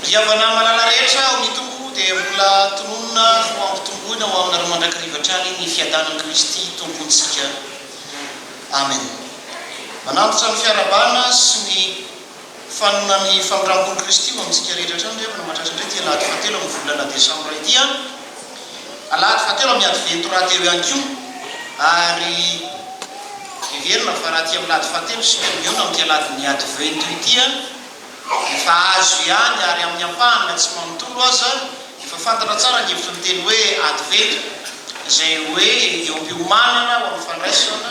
Ny havana malala rehetra ao amin'ny Tompo dia mbola tononina ho hampitomboina ho aminareo mandrakariva hatrany ny fiadanan'i Kristy Tompontsika. Amen. Manantitra ny fiarahabana sy ny fanonan'ny famindram-pon'i Kristy ho amintsika rehetra hatrany ry havana mahatratra indray ity alahady fahatelo amin'ny volana desambra ity an! Alahady fahatelo amin'ny advento rahateo ihany koa ary heverina fa raha aty amin'ny lahady fahatelo isika no mihaona amin'ity alahadin'ny advento ity an! Efa azo ihany ary amin'ny ampahany na tsy manontolo aza efa fantatra tsara ny hevitry ny teny hoe adventure izay hoe eo am-piomanana ho amin'ny fandraisana,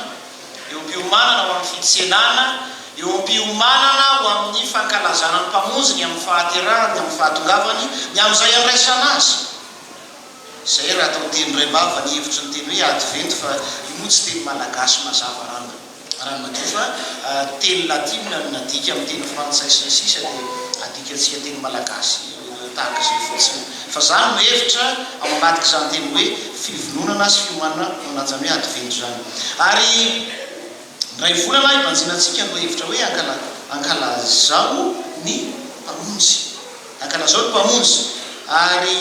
eo am-piomanana ho amin'ny fitsenana, eo am-piomanana ho amin'ny fankalazana ny Mpamonjy, ny amin'ny fahaterahany, ny amin'ny fahatongavany, ny amin'izay andraisana Azy. Izay raha atao teny iray mavany hevitry ny teny hoe adventure fa io moa tsy teny malagasy mazava ranga. Raha ny madio fa teny latina no nadika amin'ny teny frantsay sy ny sisa dia adikantsika teny malagasy tahaka izay fotsiny. Fa za no mihevitra ao anatik'izany teny hoe fivononana sy fiomanana manajan'ny hoe advento izany. Ary indray volana hibanjina antsika no hevitra hoe ankala ankalazao ny mpamonjy. Ankalazao ny mpamonjy. Ary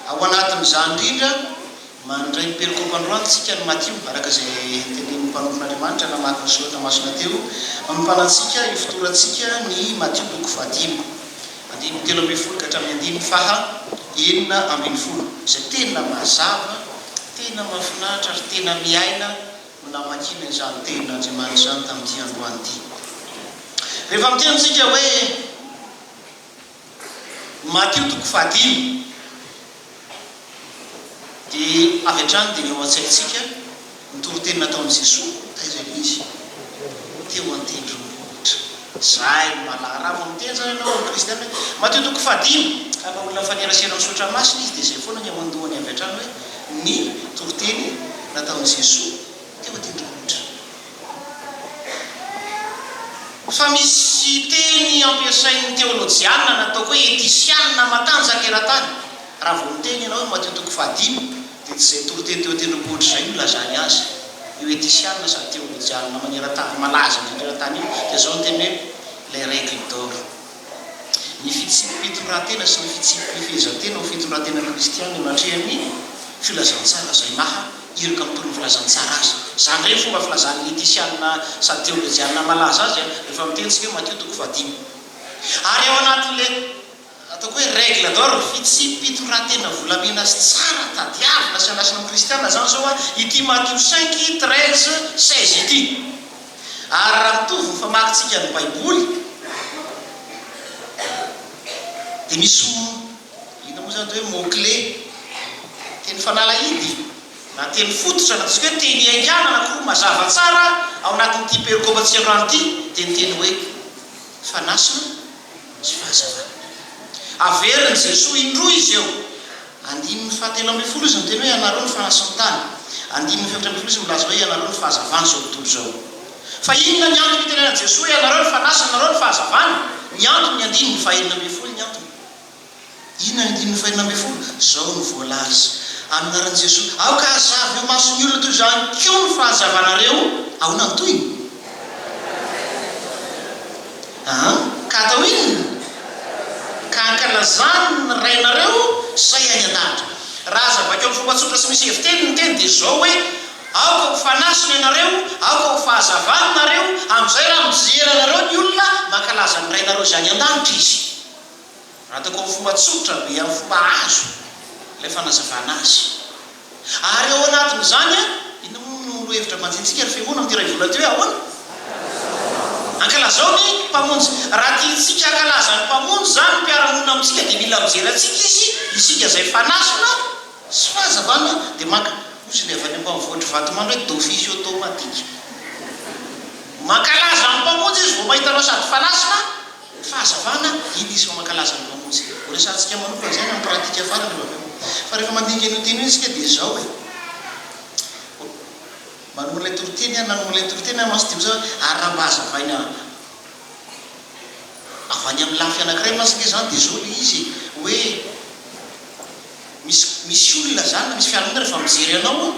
ao anatin'izany indrindra Mandray ny perokaopy androany tsika ny Matio, araka izay tenenin'ny mpanompon'Andriamanitra namaky ny soratra masina teo, manompana antsika hifotorantsika ny Matio toko fahadimy, andininy telo ambin'ny folo ka hatramin'ny andininy faha enina ambin'ny folo, izay tena mazava, tena mahafinaritra ary tena miaina no namakiana izany tenin'Andriamanitra izany tamin'ity androany ity. Rehefa miteny tsika hoe. Matio toko fahadimy dia avy hatrany dia eo an-tsaintsika ny toriteny nataon'i Jesoa taiza ilay izy? Teo an-tendrombohitra. Izay no mahalala. Raha vao miteny izany ianao amin'ny Kristianina hoe Matio toko fahadimy, ka raha olona mifanerasera amin'ny Soratra Masina izy dia izay foana ny ao an-dohany avy hatrany hoe ny toriteny nataon'i Jesoa teo an-tendrombohitra. Fa misy teny ampiasain'ny teolojiana natao hoe etisiana matanjaka eran-tany. Raha vao miteny ianao i Matio toko fahadimy dia tsy izay toro teny teo an-tendrombohitra izay no ilazany azy. Io etisiana sady teolojiana maneran-tany malaza indrindra eran-tany io dia izao ny teniny hoe les règles d'or. Ny fitsipi-pitoran-tena sy ny fitsipi-pifehezan-tena ho fitoran-tena kristianina eo atrehan'ny filazantsara izay maha iraka ny tolon'ny filazantsara azy. Izany indray no fomba filazan'ny Letisiana sady teolojiana malaza azy rehefa miteny isika hoe Matio toko fahadimy. Ary ao anatin'ilay ataoko hoe règle d'or, fitsipi-pitoran-tena volamena sy tsara tadiavina sy andrasana amin'ny kristianina izany izao ity Matio cinq, treize, seize ity. Ary raha mitovy ny famakintsika ny Baiboly, dia misy, inona moa izany atao hoe mot clé, teny fanalahidy na teny fototra na ataontsika hoe teny ihaingàna anankiroa mazava tsara ao anatin'ity perikopa tsy iandohana ity, dia ny teny hoe fanasana sy fahazavana. Averin'i Jesoa indroa izy eo. Andininy fahatelo ambin'ny folo izy miteny hoe ianareo no fanahy sy ny tany. Andininy fahefatra ambin'ny folo izy milaza hoe ianareo no fahazavana izao tontolo izao. Fa inona ny antony itenenan'i Jesoa hoe ianareo no fanahy sy ianareo no fahazavana? Ny antony ny andininy fahenina ambin'ny folo ny antony. Inona ny andininy fahenina ambin'ny folo? Izao no voalaza, amin'ny anaran'i Jesoa, aoka hazava eo mason'ny olona toy izany koa ny fahazavanareo. Ahoana ny tohiny? Aa! Ka atao inona? Ka ankalazany ny rainareo izay any an-danitra. Raha aza vaky amin'ny fomba tsotra sy misy heviteny ny teny dia izao hoe, Aoka ho fanasina ianareo, aoka ho fahazavana nareo, amin'izay raha mijery anareo ny olona, mankalaza ny Rainareo izay any an-danitra izy. Ataoko amin'ny fomba tsotra be, amin'ny fomba azo ilay fanazavana azy. Ary ao anatin'izany an, inona moa no lohahevitra banjintsika ry Fiangonana amin'ity iray volana ity hoe ahoana? Ankalazao ny Mpamonjy. Raha tiantsika hankalaza ny Mpamonjy izany ny mpiara-monina amintsika dia mila mijery antsika izy, isika izay fanasina sy fahazavana dia maka, hozy ilay avy any ambanivohitr'i Vatomandry hoe d'office automatique. Mankalaza ny Mpamonjy izy vao mahita anao sady fanasina, Fahazavana, Inona izy fa mankalaza ny Mpamonjy? Horesahantsika manokana izany amin'ny pratika farany aloha avy eo. Fa rehefa mandinika an'io teny io isika dia izao e. Manoloana ilay toriteny aho, nanoloana ilay toriteny aho mantsy dia ho zava-, ary raha mba hazavaina avy any amin'ny lafy anankiray mantsy ange izany dia izao ilay izy e, hoe misy, misy olona izany na misy fiarahamonina rehefa mijery anao,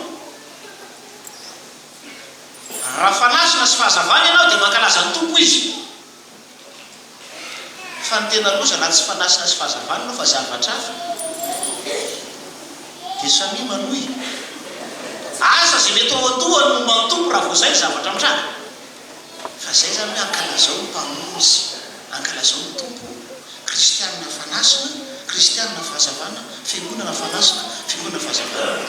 raha fanasina sy fahazavana ianao dia mankalaza ny Tompo izy. Fa ny tena loza na tsy fanasina sy fahazavana aloha fa zavatra hafa dia samia manohy asa izay mety ao an-dohany momba ny Tompo raha vao izay ny zavatra mitranga. Fa izay izany hoe ankalazao ny Mpamonjy, ankalazao ny Tompo, Kristianina fanasina, Kristianina fahazavana, Fiangonana fanasina, Fiangonana fahazavana.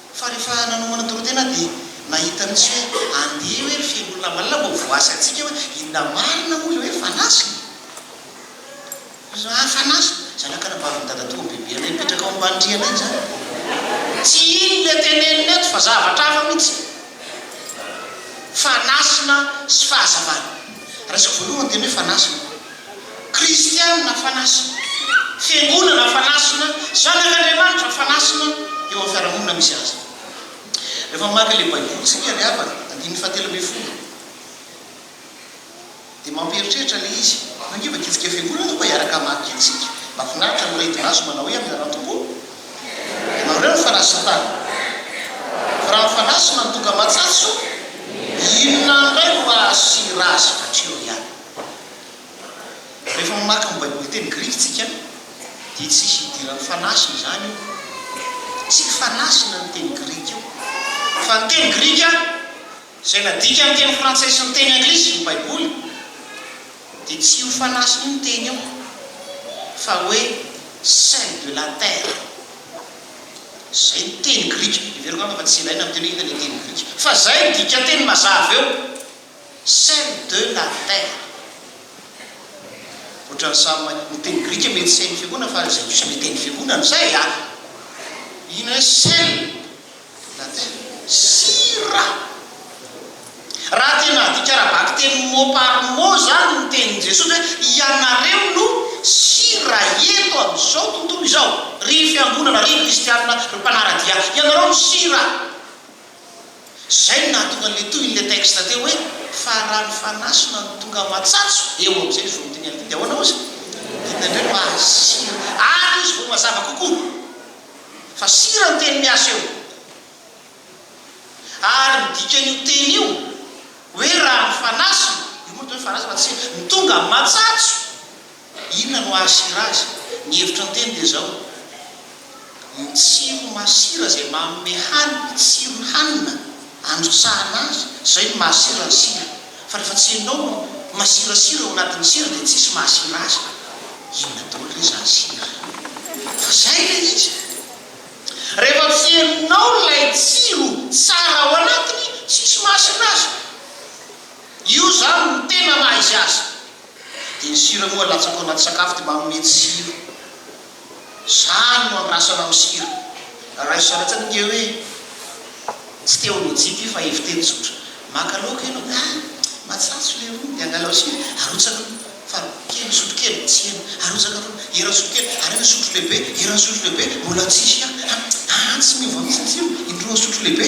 Fa rehefa nanomana toritena aho dia nahita mihitsy hoe andeha hoe ry feno olona malala mba ho voasy antsika hoe inona marina moa ilay hoe fanasina? Ry zalahy fanasina? Zanaka anabavin'i dadatoa bebe anay mipetraka ao ambany rihana izany. Tsy iny le teneniny eto fa zavatra hafa mihitsy. Fanasina sy fahazavana. Raisiko voalohany ny teny hoe fanasina. Kristiana fanasina, Fiangonana fanasina, zanak'Andriamanitra fanasina eo amin'ny fiarahamonina misy azy. Rehefa mamaky ilay Baiboly isika ry havana, andininy fahatelo ambin'ny folo, dia mampieritreritra ilay izy. Io ange efa didikan'ny Fiangonana io, koa hiaraka hamaky antsika. Mahafinaritra ny mireto maso manao hoe amin'ny anaran'ny Tompo ianao indray no fanasan-tany. Fa raha mifanasina ny tonga aman-tsatso, inona indray no hahasoa ratsy? Hatreo ihany. Rehefa mamaky ny Baiboly teny grika isika, dia tsy hisy idiran'ny fanasina izany io. Tsy fanasina ny teny grika io, fa ny teny grika izay nadika amin'ny teny frantsay sy ny teny anglisy ny Baiboly, dia tsy io fanasina io ny teny io, fa hoe sel de la terre. Izay ny teny grika. Hevero angamba fa tsy ilaina amin'ny teny hoe hita ilay teny grika, fa izay ny dikan-teny mazava eo. Saint de la terre. Otrany samy mahay miteny grika mety saint fiangonana fa izay diso miteny fiangonana izay a! Inona hoe saint de la terre? Sira! Raha tena adika ara-bakiteny mot par mot izany ny tenin'i Jesosy hoe ianareo no sira eto amin'izao tontolo izao, ry fiangonana, ry kristianina, ry mpanara-dia, ianareo no sira! Izay no nahatonga an'ilay tohin'ilay texte teo hoe, Fa raha ny Fanahy sy Rano tonga matsatso, eo amin'izay ny vonin'ny teny alibin-dia. Ahoana hozy? Inona indray no ahasia ary hozy vao mazava kokoa fa sira ny teny miasa eo? Ary ny dikan'io teny io hoe raha ny Fanahy sy ny, io moa ny teny hoe Fanahy sy Rano, tsy sira, no tonga matsatso, Inona no hahasira azy? Ny hevitro an-teny dia izao, Ny tsiro masira izay manome hany, ny tsiron'ny hanina androtsahana azy, izay no mahasira ny sira. Fa rehefa tsy ianao no masirasira ao anatin'ny sira dia tsisy mahasira azy. Inona daholo re izany sira? Fa izay ilay izy. Rehefa tsy henonao ilay tsiro tsara ao anatiny, tsisy mahasira azy. Io izany no tena maha izy azy. Dia ny sira moa alatsaka ao anaty sakafo dia manome tsiro. Zany no andrasana amin'ny sira. Raisina latsaka nge hoe tsy te ho lojika io fa heviteny tsotra. Maka laoka ianao dia ah! matsatso ilay rony dia angalao sira, arotsaka aloha fary kely sotro kely, tsy ela, arotsaka aloha eran'ny sotro kely, ariana sotro lehibe, eran'ny sotro lehibe, mbola tsisy ah! ah! tsy miova mihitsy ny tsirony, indroa sotro lehibe.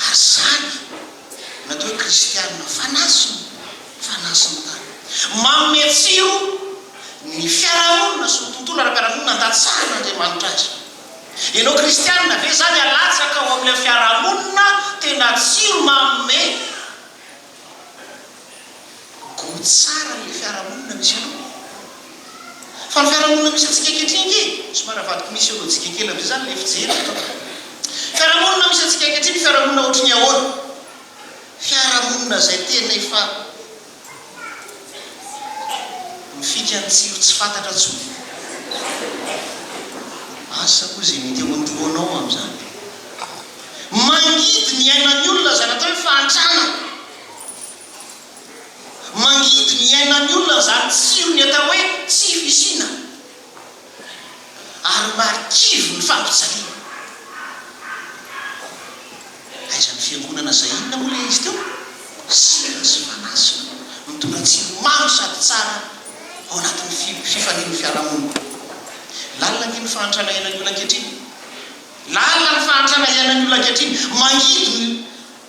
Ary izany, na dia hoe kristiana fanasina, fanasina tany. Manome tsiro ny fiarahamonina sy ny tontolo ara-piarahamonina andatsahan'Andriamanitra azy. Ianao kristiana ve izany alatsaka ao amin'ilay fiarahamonina tena tsiro manome? Go tsara ilay fiarahamonina misy anao. Fa ny fiarahamonina misy antsika ankehitriny nge somary avadiko misy ôlôjika kely avy eo zany ilay fijery eto a. Fiarahamonina misy antsika ankehitriny fiarahamonina ohatry ny ahoana? Fiarahamonina izay tena efa. Mifika ny tsiro tsy fantatra tsony. Asa koa izay mety ao an-dohanao amin'izany. Mangidy ny ainan'ny olona izany atao hoe fahantrana. Mangidy ny ainan'ny olona izany tsiro ny atao hoe tsy fisiana. Ary marikivy ny fampijaliana. Aiza ny fiangonana zay inona moa le izy teo? Sira sy manasina mitondra tsiro mamy sady tsara ao anatin'ny fi fifalian'ny fiarahamonina. Lalina ange ny fahantrana iainan'ny olona ankehitriny. Lalina ny fahantrana iainan'ny olona ankehitriny. Mangidy ny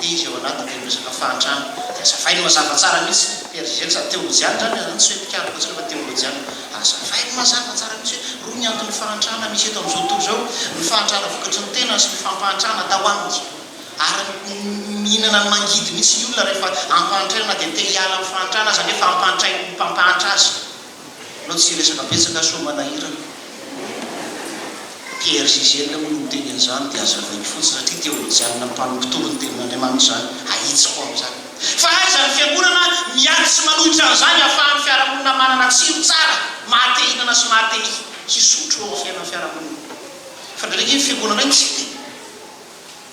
dia izy ao anaty dia miresaka fahantrana dia azavainy mazava tsara mihitsy dia ry zergz teolojiana izany izany tsy hoe mpikambana intsony fa teolojiana azavainy mazava tsara mihitsy hoe roa ny anton'ny fahantrana misy eto amin'izao tontolo izao ny fahantrana vokatry ny tenany sy ny fampahantrana atao aminy ary mihinana ny mangidy mihitsy ny olona rehefa ampahantraina na dia te hiala amin'ny fahantrana aza nefa ampahantrain'ny mpampahantra azy Anao tsy hiresaka betsaka aho sao manahirana. Pierre Gisèle moa no miteny an'izany dia hazavaiko fotsiny satria teo amin'ny Diane mpanompotory ny tenin'Andriamanitra izany, ahitsiko ao izany. Fa aiza ny fiangonana miady sy manohitra an'izany ahafahan'ny fiarahamonina manana tsiro tsara maha te hihinana sy maha te hisotro eo amin'ny fiainan'ny fiarahamonina? Fa ndraindray ange ny fiangonanay tsy te.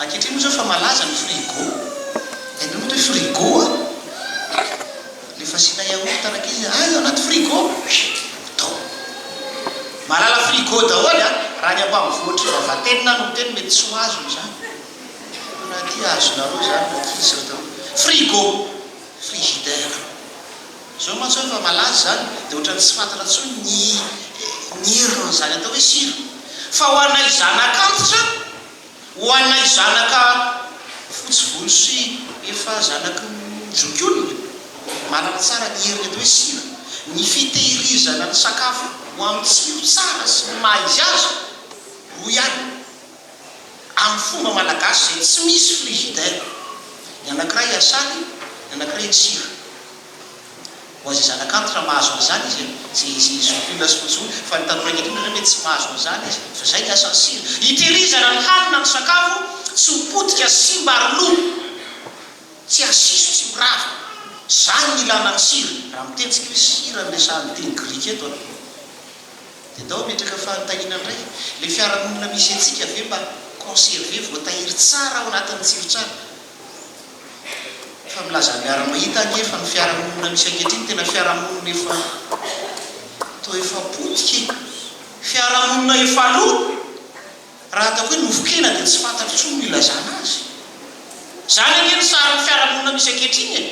Ankehitriny moa izao efa malaza ny frigo, hainareo moa ve frigo a? Ilay fasiana yaourt rankizy a, ahy anaty frigo, atao. Mahalala frigo daholo a, raha ny ambanivohitr'i Vavatenina no miteny mety tsy ho azony izany, fa raha aty azonareo izany rankizy sy ry daoly, frigo. Frigidaire. Zao mantsy hoy fa malaza izany dia ohatran'ny tsy fantatra intsony ny ny herin'izany atao hoe sira. Fa ho anay zanaka antitra, ho anay zanaka fotsy volo sy efa zanaky ny zokiolona, manana tsara ny heriny atao hoe sira, ny fitehirizana ny sakafo ho amin'ny tsiro tsara sy ny maha izy azy, hoy ihany. amin'ny fomba malagasy izay tsy misy frigidaire, ny anankiray asaly, ny anankiray atsiro. Ho azy zanak'antitra mahazo an'izany izy an, izay izay zokiolona sy mojolo, fa ny tanora ankehitriny ohatrany hoe tsy mahazo an'izany izy, fa izay ny asan'ny sira, hitehirizana ny hanina, ny sakafo tsy ho potika sy simba ary lo, tsy hasiso, tsy ho rava. Izany ny ilana ny sira, raha miteny tsika hoe sira no resahan'ny teny grika eto an. Dia tao ametraka fanontaniana ndray, le fiarahamonina misy antsika ve mba conserver, voatahiry tsara ao anatin'ny tsiro tsara? Fa milaza ny miara-mahita anie fa ny fiarahamonina misy ankehitriny tena fiarahamonina efa toa efa potika e! Fiarahamonina efa lo! Raha ataoko hoe nofon-kena dia tsy fantatro intsony no ilazana azy. Izany ange ny sarin'ny fiarahamonina misy ankehitriny e!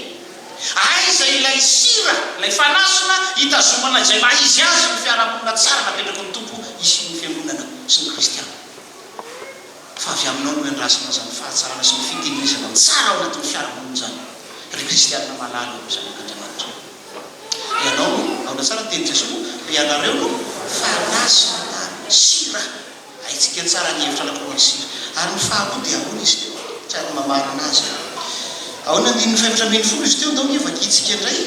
Aiza ilay sira, ilay fanasina hitazomana izay maha izy azy ny fiarahamonina tsara napetraky ny Tompo hisian'ny fiangonana sy ny kristiana? Fa avy aminao no iandrasana izany fahatsarana sy ny fitehirizana ny tsara ao anatin'ny fiarahamonina izany, ry kristiana malala o, zanak'Andriamanitra. Ianao no, aona tsara ny tenin'i Jesoa? Ry ianareo no fahalaza ary sira. Haintsika tsara ny hevitra anankiroan'ny sira. Ary ny faharoa dia ahoana izy teo? Tsara ny mamarana azy a. Ao amin'ny andininy fahefatra ambin'ny folo izy teo, ndao anie vakintsika indray.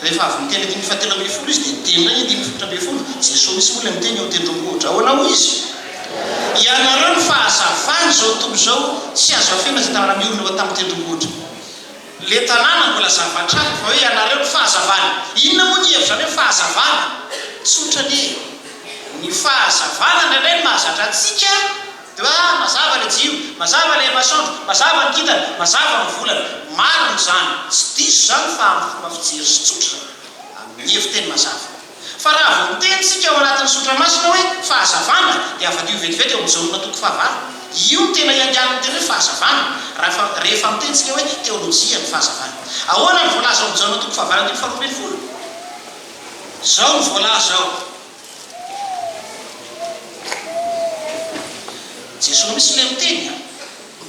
Rehefa avy niteny andininy fahatelo ambin'ny folo izy dia niteny indray ny andininy fahefatra ambin'ny folo. Jesoa mihitsy moa ilay miteny ao tendrombohitra. Ahoana hoy izy? Ianareo no fahazavana izao tontolo izao. Tsy azo afenina izay tanàna miorina eo an-tampon-tendrombohitra. Le tanàna mbola zava-trano vao eo ianareo ny fahazavana. Inona moa ny hevitrareo ny fahazavana? Tsotra anie e! Ny fahazavana indraindray no mahazatra antsika de hoe ah mazava le jiro, mazava le masoandro, mazava ny kintana, mazava ny volana. Marina izany, tsy diso izany fa amin'ny fomba fijery sy tsotra izany, amin'ny heviteny mazava. Fa raha vao miteny isika ao anatin'ny Sotra Masina hoe fahazavana dia havadio vetivety ao amin'ny Jaona toko fahavalo. Io no tena iangaly ny teny hoe fahazavana raha rehefa miteny isika hoe teolojia ny fahazavana. Ahoana no voalaza ao amin'ny Jaona toko fahavalo andininy faharoa ambin'ny folo? Izao no voalaza ao. Jesoa mihintsy ilay miteny an!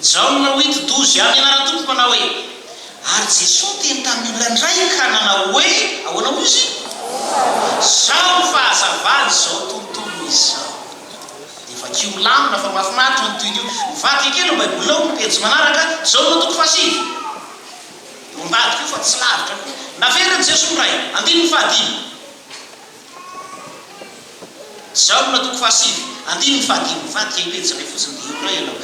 Jaona wito dozy, Amin'ny anaran'ny Tompo manao hoe. Ary Jesoa niteny tamin'ny olona indray ka nanao hoe, Ahoana moa izy? Izao no fahazavan'izao tontolo izao. Dia vakio milamina fa mahafinaritra io andidiody io. Mivadika kely eo Baibolinao amin'ny pejy manaraka, izao no andoko fahasivy. Eo ambadika eo fa tsy lavitra koa. Naverin'i Jesoa indray, andininy fahadimy. Jaona toko fahasivy, andininy fahadimy, mivadika io pejy iray fotsiny dia eo indray ianao.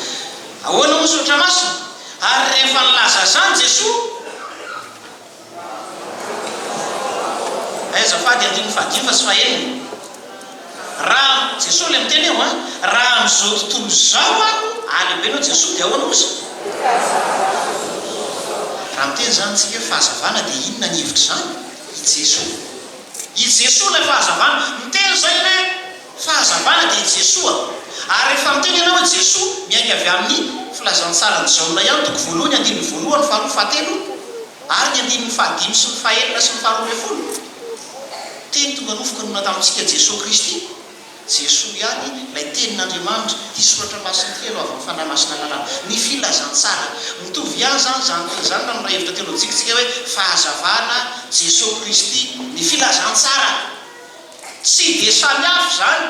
Ahoana moa Soratra Masina? Ary rehefa nilaza izany Jesoa, Aiza fady andininy fahadimy fa tsy fahenina? Raha Jesoa ilay miteny eo an! Raha amin'izao tontolo izao aho halehibenao Jesoa dia ahoana kosa? Raha miteny izany isika hoe fahazavana dia inona ny hevitr'izany i Jesoa? I Jesoa ilay fahazavana. Miteny izay hoe fahazavana dia i Jesoa. Ary rehefa miteny ianao hoe Jesoa, miainga avy amin'ny filazantsaran'i Jaona ihany, toko voalohany, andininy voalohany, faharoa, fahatelo, ary ny andininy fahadimy sy ny fahenina sy ny faharoa ambin'ny folo. Teny tonga nofo ka nona tamintsika Jesoa Kristy. Jesoa ihany ilay tenin'Andriamanitra, ity soratra masina ity ianao avy amin'ny Fanahy Masina lalàna, ny filazantsara. Mitovy ihany izany izany teny izany raha miray hevitra teolojika isika hoe fahazavana, Jesoa Kristy, ny filazantsara. Tsy dia samy hafa izany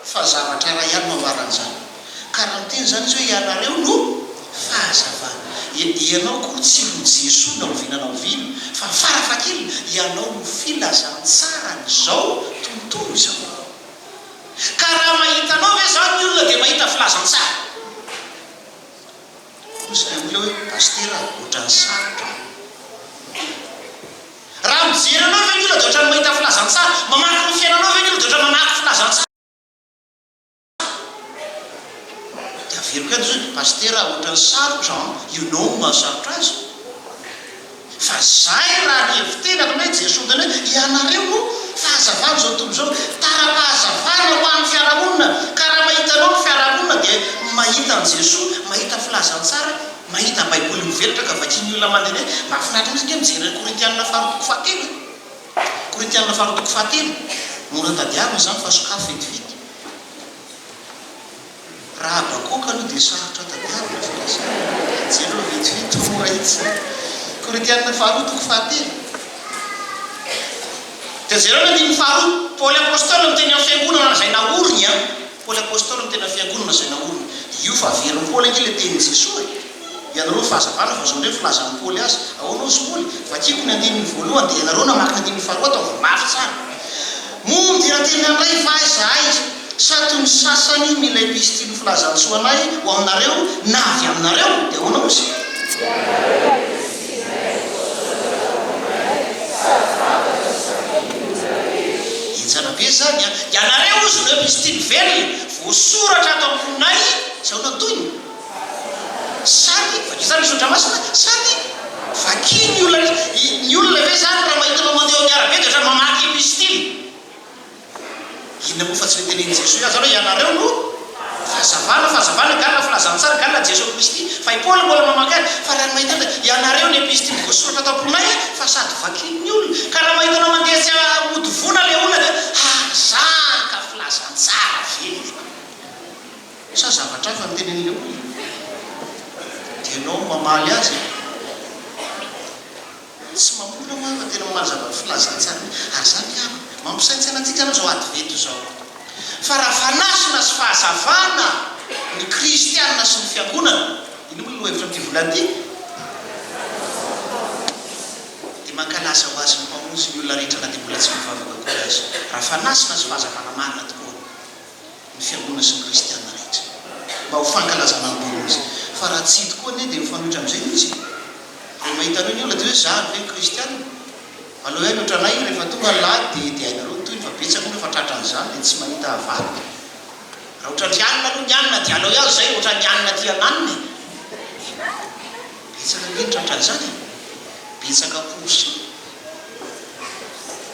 fa zavatra iray ihany no ambaran'izany. Ka raha miteny izany izy hoe ianareo no fahazavana. Ianao akory tsy ho Jesoa na oviana na oviana, fa fara fahakeliny ianao no filazantsaran'izao tontolo izao. Ka raha mahita anao ve izany ny olona dia mahita filazantsara? Hoy ilay olona hoe, Pasitera a, ohatran'ny sarotra an. Raha mijery anao ve ny olona dia ohatran'ny mahita filazantsara? Mamaky ny fiainanao ve ny olona dia ohatran'ny mamaky filazantsara? De averiko any zao, Pasitera a, ohatrany sarotra an, you know ny mahasarotra azy, fa zay raha ny hevitenako na i Jesoa miteny hoe ianareo no fahazavany zao tontolo zao, tara-pahazavana ho an'ny fiarahamonina, ka raha mahitanao ny fiarahamonina dia mahita an'i Jesoa, mahita filazantsara, mahita baiboly mivelatra ka vakian'ny olona mandehandeha, mahafinaritra mihitsy nge mijery an'i Korintianina faharoa toko fahatelo e. Korintiana faharoa toko fahatelo, Mora tadiavina izany fa sokafy vetivety. Raha Habakoka aloha dia sarotra tadiavina fa raha izany dia jereo vetivety fa mora itsy. Korintiana faharoa toko fahatelo. Dia jereo ny andininy faharoa, Paoly apostoly miteny amin'ny fiangonana izay naoriny. Paoly Apostoly no tena fiangonana izay naorina. Io fa averin'i Paoly ange ilay tenin'i Jesoa e! Ianareo ny fahazavana vao izao indray ny filazan'i Paoly azy. Ahoana hozy Paoly? Vakiko ny andininy voalohany dia ianareo namaky ny andininy faharoa ataovy mafy tsara. Moa midera teny anay va izahay sa toy ny sasany mila epistily filazantsoa anay ho aminareo na avy aminareo? Dia ahoana hozy? Enjana be izany an! Ianareo hozy ireo misy tiany velona, voasoratra ato amboninay izao ny antonony. Samy, vakio tsara ny soratra masina, samy vakio ny olona rehetra. Ny olona ve izany raha mahita anao mandeha eo amin'ny arabe dia ohatran'ny mamaky epistily? Inona moa fa tsy le tenenin'i Jesoa ihany zany hoe ianareo no fahazavana, fahazavana galona filazana tsara galona Jesoa Kristy fa i Paoly mbola mamaky azy fa raha ny mahita azy dia ianareo ny episitily voasoratra tao am-ponay a fa sady vakin'ny olona ka raha mahita anao mandeha tsy mody voana le olona dia hazaka filazantsara ve le fa sa zavatra hafa no tenenin'le olona dia ianao mamaly azy e. Tsy mamola ho'a fa tena omaly zavatra filazantsara io ary za miala. Mampisaintsaina antsika aloha zao advento zao fa raha fanasina sy fahazavana ny kristiana sy ny fiangonana, iny moa ny lohahevitra amty volana ty, de mankalaza ho azy ny mpamonjy ny olona rehetra na de mbola tsy mivavaka akory aza. Raha fanasina sy fahazavana marina tokoa. ny fiangonana sy ny kristiana rehetra mba ho fankalazana ny taona izy fa raha tsy tokoa anie dia mifanohitra amin'izay mihitsy e! Rehefa hitanao ny olona dia hoe zary ve ny kristiana? Aleo hay ny otranay rehefa tonga ny lahady dia hediahinareo ny tohiny fa betsaka moa efa tratra an'izany dia tsy mahita avadika. Raha otran'ny hanina aloha ny hanina dia aleo ihany izay otran'ny hanina aty hananina e! Betsaka ange ny tratra an'izany e! Betsaka pour ça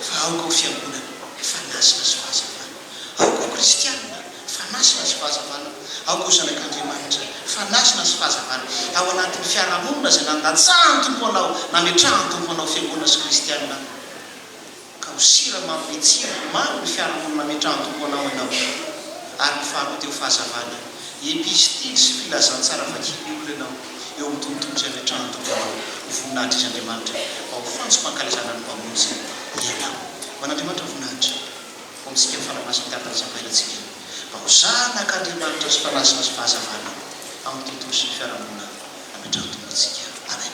fa aoka ho fiangonana fa nazy na soa aza fa. Aoka ho kristianina fa masina sy fahazavana, aoka ho zanak'Andriamanitra fa nasina sy fahazavana ao anatin'ny fiarahamonina izay nandatsahan'ny Tompo anao, nametrahan'ny Tompo anao fiangonana sy kristianina, ka ho siramamy mitsiry ho mamy ny fiarahamonina nametrahan'ny Tompo anao ianao. Ary ny faharoa dia ho fahazavana, epistily sy filazantsara vakian'ny olona ianao eo amin'ny tontolo izay ametrahan'ny Tompo anao ho voninahitry Izy Andriamanitra, mba ho fantsom-pankalazana ny Mpamonjy ianao. Ho an'Andriamanitra ny voninahitra. Fontsika ny fanahy masin'ny Tatan'i Zakaria antsika mba ho zanak' Andriamanitra sy mpanazina sy fahazavana amin'ny tontolo sy ny fiarahamonina nametrahan-tompontsika. Amen.